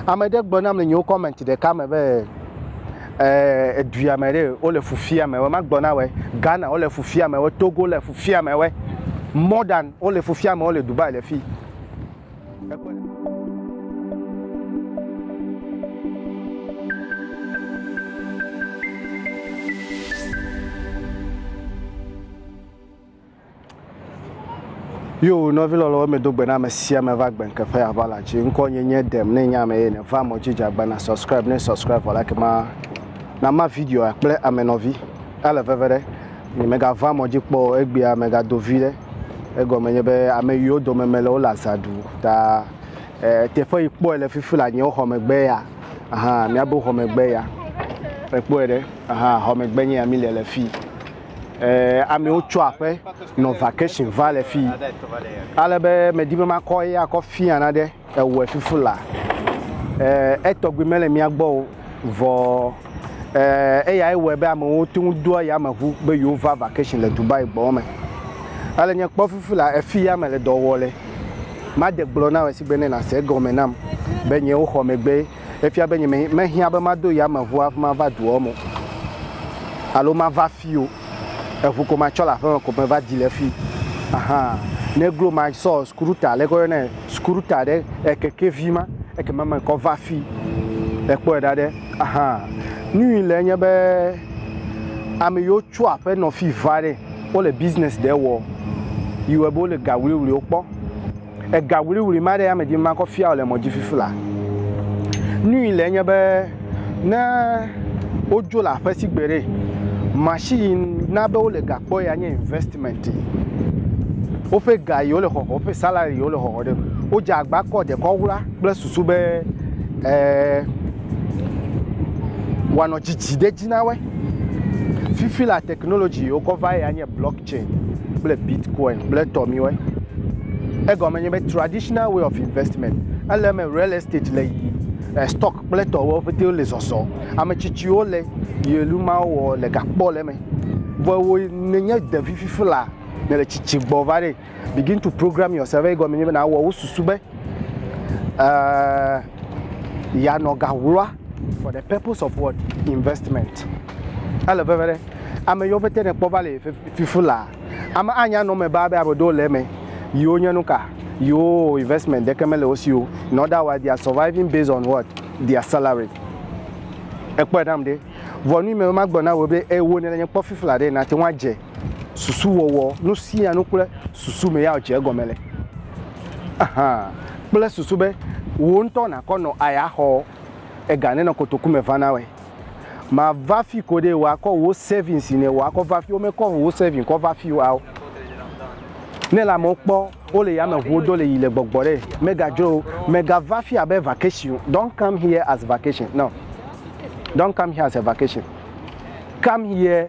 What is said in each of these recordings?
Ame ɖe gblɔ nam le nyewo comment ɖeka me be eduya me ɖe wole fu fia me wɔ ma gblɔ na wɔ Ghana wole fu fia me wɔ Togo le fu fia me wɔ more than wole fu fia me wɔ le Dubai le fi. Yo, nɔvi lɔlɔwo me do gbe na ame sia ame va gbe ŋke ƒe ava la dzi. Ŋkɔ nye nye dem ne nye ame ye ne va mɔ dzi dze agba na subscribe ne subscribe vɔ like ma na ma video a kple ame nɔvi a le veve ɖe nye me ga va mɔ dzi kpɔ o egbea me ga do vi ɖe egɔme nye be ame yiwo dome me le wo le aza ɖu ta e teƒe yi kpɔe le fifi le anyewo xɔ megbe ya aha mia bo xɔ megbe ya ekpɔe ɖe aha xɔ megbe nye ya mi le le fi eh, amewo tso aƒe nɔ vacation va le fii. Ale be medi be makɔ eya kɔ fia na ɖe ewɔe fufu la. Eh, etɔgbi mele mía gbɔ o, vɔ eh, eya ewɔe be amewo to ŋu doa yameʋu be yewo va vacation le Dubai gbɔ me. Ale nye kpɔ fufu la, efi ya mele dɔ wɔ le. Made gblɔ na wò esigbe ne nàse egɔme nam be nyewo xɔ megbe Efia be nyeme mehiã be mado yameʋua ƒe mava duɔ me o alo mava afii o. Eʋu ko matsɔ le aƒeme ko meva di le fii. Aha. Negro ma sɔ skuruta, leke woyɔnɛ, skuruta ɖe ekekevi ma eke ma mekɔ va fii. Ekpɔe ɖa ɖe. Aha. Nui le enye be ame yiwo tso aƒe nɔ fii va ɖe, wole business ɖe wɔ. Yi wɔe be wole ga wluiwluiwo kpɔ. Ega ŋuliŋuli ma ɖe ame dzi makɔ fia wòle mɔ dzi fifi la. Nui le enye be ne wodzo le aƒe si gbe ɖe, machine na be wole ga kpɔ ya nye investment. Woƒe ga yi wole xɔxɔ, woƒe salary yi wole xɔxɔ ɖe, wodze agba kɔ dekɔ ŋula kple susu be eh wanɔ dzidzi ɖe dzi na woe. Fifi la technology yi wokɔ va ya nye block. blockchain kple bitcoin kple etɔ miwɔe. Egɔme nye be traditional way of investment ele eme real estate le yi eh, stock kple etɔwo ƒete le zɔzɔ. Ame tsitsiwo le yelu mawo wɔ le gakpɔ le eme. Vɔ wo nenye ɖevi fifi la ne le tsitsi gbɔ va ɖe begin to program yourself egɔme nye be na wɔ wo susu be uh, yanɔ gawloa For the purpose of what? Investment. Ele veve ɖe. Ame yiwo pete ne kpɔ va le fifi la, ame anya nɔ me ba be ame ɖewo le eme. Yiwo nye nuka? Yiwo investment ɖeke mele wo si o. In other words, they are surviving based on what? Their salary. Ekpɔe nam ɖe. Vɔ nu yi me be magblɔ na wò be ewɔ nɛ le nye kpɔ fifi la ɖe, nàte ŋu adze. susuwɔwɔ, nu sia nu kple susu me ya dze egɔme le. Aha, kple susu be wò ŋutɔ nàkɔ nɔ aya xɔ ega nenɔ kotoku me va na wòe. Màva fi koɖe wòakɔ wò savings yi ne wòakɔ va fi, womekɔ wò savings kɔ va fi o ao. Ne le amewo kpɔ wole yameʋuwo do le yi le gbɔgbɔ ɖe, megadzro wo. Megava fi abe vacation o. Don't come here as vacation, no. Don't come here as a vacation. Come here.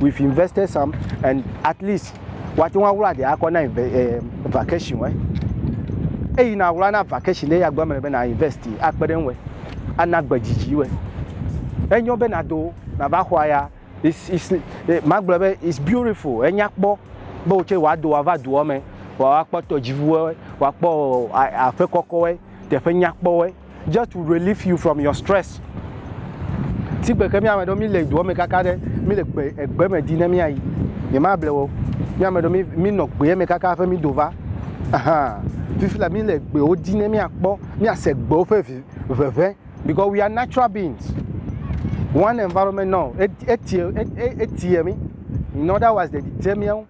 we've invested some and at least woate ŋu aɣla ɖe akɔ na eh, vacation eh. eyi na aɣla na vacation ɖe ya gbe me be na invest akpe ɖe ŋu ana gbe dzidzi we enyo be na do na va xɔa ya it's it's eh, magblɔ be it's beautiful enya kpɔ be wotse wòado wòava doa me wòakpɔ tɔdziʋuwo wòakpɔ aƒe kɔkɔwe teƒe nyakpɔwe Just to relieve you from your stress. Ti gbe ke mi ame ɖewo mi le doa me kaka ɖe mi le gbe egbe me di ne mi ayi. Nye ma ble wo. Mi ame ɖewo mi mi nɔ gbe me kaka ƒe mi do va. Aha. Fifi la mi le gbe wo di ne mi akpɔ mi ase gbe wo ƒe vi veve because we are natural beings. One environment now etie etie mi. In other words, de di te mi awo.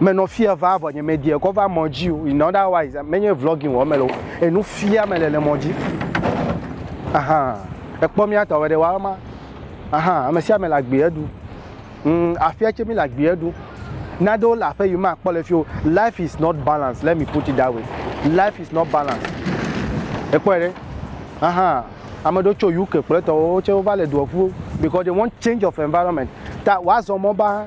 menɔ fia va vɔ nye medie kɔ va mɔ dzi o in other wise menye vlogging wɔ mele o enu fia mele le mɔ dzi ahan ekpɔ mía tɔ wɛɖe wa ma ahan ame sia ame le agbeɛ ɖu mm, afia tse mi le agbeɛ ɖu naɖewo le aƒe yi ma kpɔ le fi o life is not balance let me put it that way life is not balance ekpɔe ɖe ahan ame ɖewo tso uk kple tɔwo tse wova le doa ƒu because they want change of environment ta wazɔ mɔ ba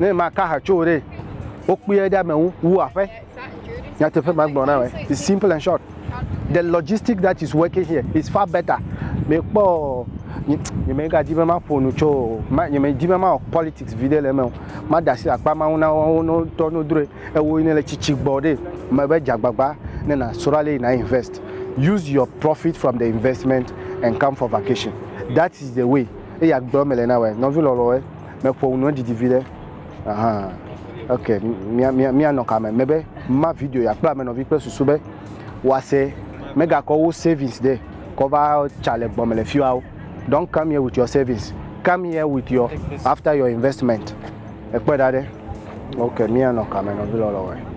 ne maka ha tso ɖe wokpɔe ɖe amewo wu aƒe nyateƒe magblɔ na wɔ it's simple and short the logistic that is working here is far better mekpɔ nyemegadi be maƒo nu tso nyemedi be mawɔ politics vi ɖe le eme o mada asi akpa mawo na wo ŋutɔ no droe ewo ne le tsitsi gbɔ ɖe mebe dzagbagba ne na srɔ̃a le na invest use your profit from the investment and come for vacation that is the way eya gblɔ mele na wɔ nɔvi lɔlɔe Meƒo nu ne didi viɖe. Aha. Ok, mia, mia, mia nɔ kame. Me be, ma video ya kpla me nɔvi kple susu be, wa se, me ga kɔ wo savings de, kɔ va tsa le gbɔ me le fiwa wo. Don't come here with your savings. Come here with your, after your investment. Ekpɔe ɖa ɖe. Ok, mia nɔ kame nɔvi lɔlɔ wɔe.